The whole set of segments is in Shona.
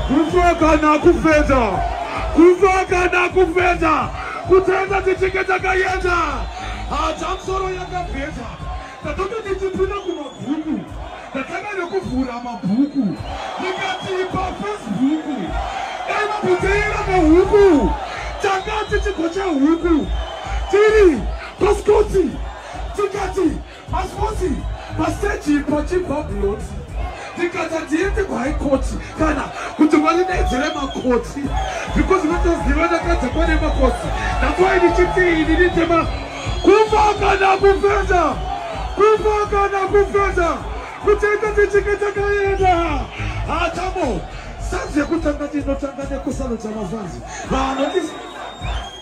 kufa kana kufeta kufa kana kufeta kutenda tichinge takaenda hata msoro yakapeta tatanga tichipinda kumabhuku tatanga nekuvhura mabhuku ndikati pafacebook dai mabuteira mahuku tanga tichigocha huku tiri Paskoti, tikati paskoti pasteji pachibva buloti tikati hatiende kuhigh court kana kuti varinaidzire makoti because vatoziva ndakadza kwane makoti nakwai ndichiti ini nditema kufa kana kufenda kufa kana kufenda kutenda tichinge takaenda hatamo sanzi yekutanga tinotanga nekusano dzamazanzi vanoti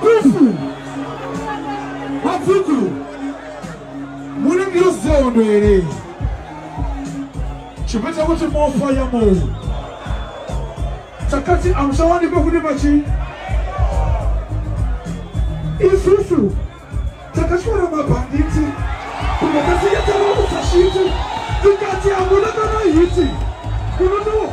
Kufu. Mafuku. Mune ndiyozondo here. Chipeta kuti mofa ya mo. Takati amsawani kwa kune machi. Isusu. Takati kwa mabanditi. Kumakasi ya taromu sashiti. Tukati amuna kama hiti. Kunono.